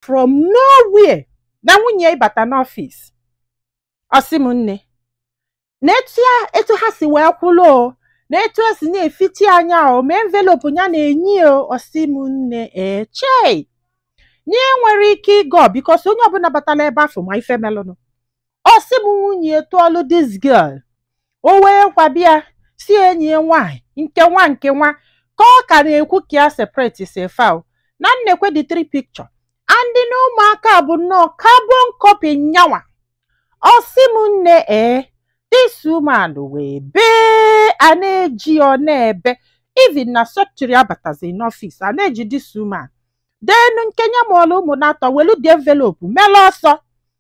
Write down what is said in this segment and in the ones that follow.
from nowhere na nwunye ya ịbata n'ọfịs ọ sị m nne na etu ya etu ha si wee kwụrụ o na etu esi na-efiti anya o ma envelope ya na-enye ya o ọ sị m nne ee chei na ya enwerọ ike ịgọ because onye ọbụla batalụ ebe afụ ma ife melụnụ ọ sị m nwunye ya tụọlụ this girl o wee kwabi ya si enyi ya nwaanyị nke nwa nke nwa ka ọ ka na-ekwu ka ya separate sịa fa o na nekwa the three picture and na ụmụaka bụ nnọọ carbon copy nyanwa ọ sị m nne ee this woman wee bee a na-eji ya ọ na-ebe even na secretary abatazi n'ọfịs a na-eji this woman then nke nya mụọlụ ụmụ n'atọ welu the envelope mele ọsọ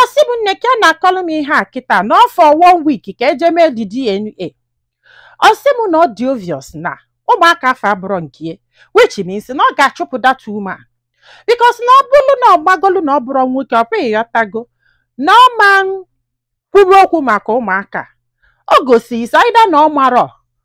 ọ sị m nne ka ya na-akọlụ m ihe a kịta na ọ fọ one week ka e je mee the DNA ọ sị m na ọ dị obvious na ụmụaka afụ abụrọ nke ya which means na ọ ga-achụpụ that woman because na ọ bụrụ na ọ gbagolu na ọ bụrọ nwoke ọ bụ ịghọtago na ọ ma kwuru okwu maka ụmụaka o gosi is either na ọ marọ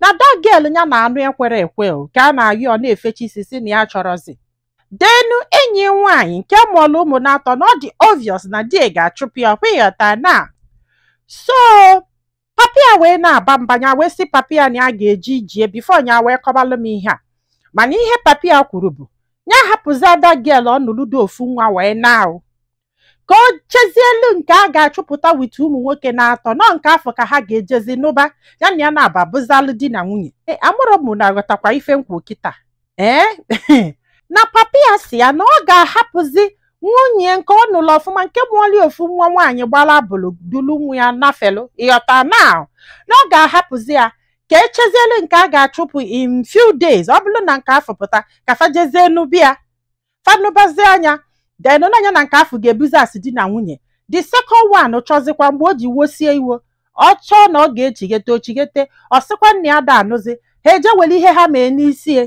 na that girl ya na-anụ ekwerọ ekwe o, ka a na-ayọ ọ na-efechi isi si na ya achọrọzi then enyi nwaanyị nke mụọlụ ụmụ n'atọ na ọ dị obvious na di ya ga-achụpụ ya ọkwa ịghọta na so papa ya wee na-aba mba ya wee sị papa ya na ya ga-eji ijie before ya wee kọbalụ m ihe a mana ihe papa ya kwuru bụ ya hapụzi that girl ọ nụlụ du ofu nwa wee naa o ka o chezielu nke a ga-achụpụta with ụmụ nwoke n'atọ na nke afụ ka ha ga-ejezi nụba ya na ya na ya abụzịlụ di na nwunye e, amarọ m ma aghọtakwa ife m kwu kịta ee na papa ya si ya na ọ ga-ahapụzi nwunye nke ọ nụlụ ọfụma nke mụọlụ ofu nwa nwaanyị gbara abụlụ dulu nwa ya nafelu ịghọta na na ọ ga-ahapụzi ya ka echezielu nke a ga-achụpụ in few days ọ bụrụ na nke afụ pụta ka fa jezie nụba ya fa nụbazia nya then na nya na nke afụ ga-ebizi as di na nwunye the second one chọzikwa mgbe o ji wosie iwo ọ chọọ na ọ ga-echighete o chighete ọ sịkwa na ya ada anụzi ha eje were ihe ha mee n'isi ya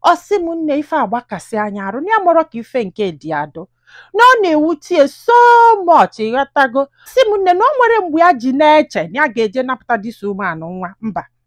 ọ sị m nne ife agbakasịa nya arụ na ya amarọ ka ife nke dị adụ na ọ na-ewute ya so much ịghọtago si m nne na o nwere mgbe ya ji na-eche na ya ga-eje napụta this woman nụnwa mba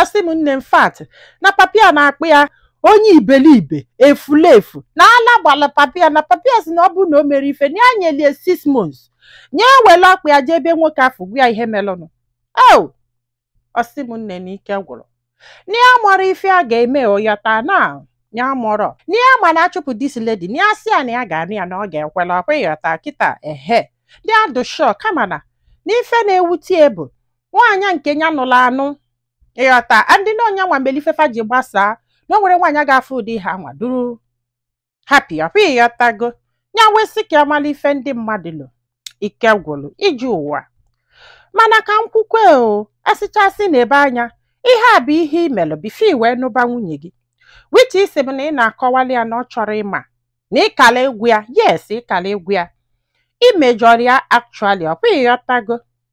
ọ sị m nne in fact na papa ya na-akpọ ya onye ibelibe efulefu na ala gbala papa ya na papa ya si na ọ bụrụ na o merọ ife na ya nyelụ ya six months nya ewelu ọkpa ya jee ebe nwoke afụ gwa ya ihe melụnụ o ọ sị m nne na ike gwụrụ na ya amarọ ife a ga-eme ịghọta na ya amarọ na ya ma na a chụpụ this lady na ya si ya na ya ga-anụ ya na ọ ga-ekwela ọkwa ịghọta kịta ehe ndị adụ sure kama na n'ife na-ewute ya bụ nwaanyị nke ya nụrụ anụ ịghọta and na onye anwa nwere ife fa ji gbasaa na o nwere nwaanyị ga-afụ ụdị ihe anwa dụrụ happy ọkwa ịghọtago ya wee sị ka amala ife ndị mmadụ lụ ike gwụrụ iji ụwa mana ka m kwukwe o asịchasị na ebe anya ihe a bụ ihe i melụ before i wee nụba nwunye gị which ị sị m na ị na-akọwali ya na ọ chọrọ ịma na ịkala ịgwa ya yes ịkala ịgwa ya imejọrọ ya actually ọkwa ịghọtago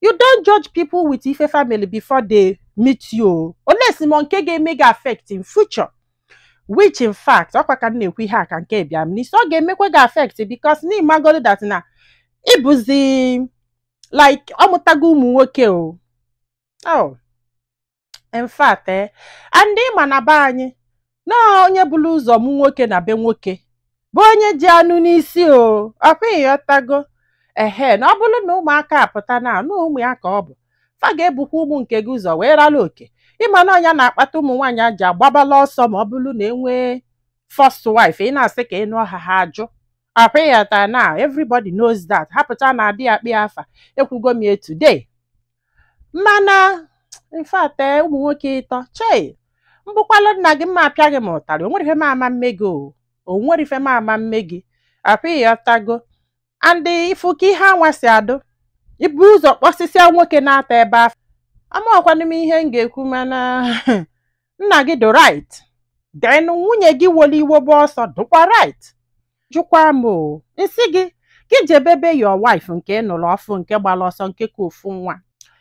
you don't judge people with ife family before they meet you unless ma nke ga-eme gị affect in future which in fact ọkwa ka m na-ekwu ihe a ka nke a bịa m n'isi ọ ga-emekwa gị affect because na ịmagoro that na ịbụzi like ọmụtago ụmụ nwoke o oh in fact eh, and ị ma na be anyị na onye bụrụ ụzọ mụ nwoke na be nwoke bụ onye ji anụ n'isi o ọkwa ịghọtago ehe na ọ bụrụ na ụmụaka apụta na anụ ụmụ ya ka ọ bụ fa ga-ebukwa ụmụ nke gị ụzọ wee rara oke ịma na ọ nya na-akpata ụmụ nwaanyị a ji agbabala ọsọ ma ọ bụrụ na enwee first wife ị na-asị ka ị nụọ ha ha ajụ ọkwa ịghọta na everybody knows that hapụta na adị akpọ ya afa ekwugo m ya today mana in fact ee ụmụ nwoke ịtọ chei m bụkwalụ nna gị mma apịa gị m ụtarị o nwere ife m ama mme gị o o nwere ife m ama mme gị ọkwa ịghọtago and ị fụ ka ihe anwa si adụ ibu ụzọ kpọsịsịa nwoke na-atọ ebe afụ amaọkwanụ m ihe m ga-ekwu mana nna gị dụ right then nwunye gị wolu iwe gbọọ ọsọ dụkwa right jụkwa m o m sị gị gị jebe be your wife nke ị nụrụ ọfụ nke gbara ọsọ nke ka ofu nwa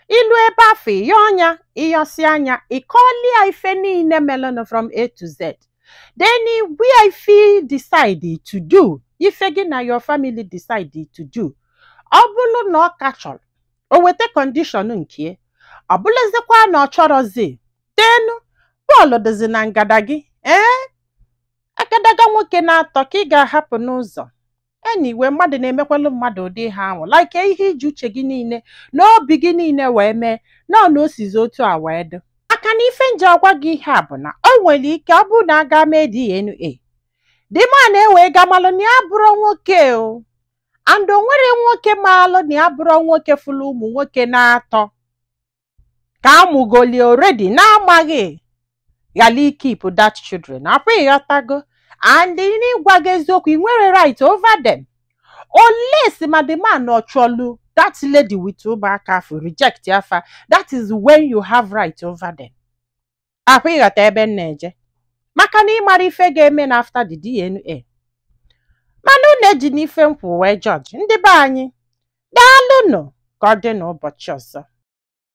i luo ebe afụ ị yọọ nya ị yọsịa nya ịkọlia ife niile melenụ from a to z then ị gwa ya ife ị decide to do ife gị na your family decide to do ọ bụrụ na ọ ka chọrọ o weta condition nke ọ bụlụzikwa na ọ chọrọzi then ball dịzi na ngada gị ee agadaga nwoke na-atọ ka ị ga-ahapụ n'ụzọ anyway mmadụ na-emekwalụ mmadụ ụdị ihe ahụ like ihe iji uche gị niile na obi gị niile wee mee nọ na o sizi otu a wee dị maka na ife m ji agwa gị ihe a bụ na o nwere ike ọ bụrụ na a ga mee DNA the man ewee ga malụ na ya abụrọ nwoke o and o nwere nwoke maalụ na ya abụrọ nwoke fụlụ ụmụ nwoke na-atọ ka amụgolie already na-amaghị ghara ikeep that children ọkwa ịghọtago and n'ịgwa gị eziokwu ị nwere right over them unless ma the man ọ chọlụ that lady with ụmụaka afụ reject fa that is when you have right over them ọkwa ịghọta ebe m na-eje maka na ịmara ife ga-eme na after the DNA mana unu ejina ife m kwụ wee judge ndị be anyị daalụnụ ka ọ dị n'ụbọchị ọzọ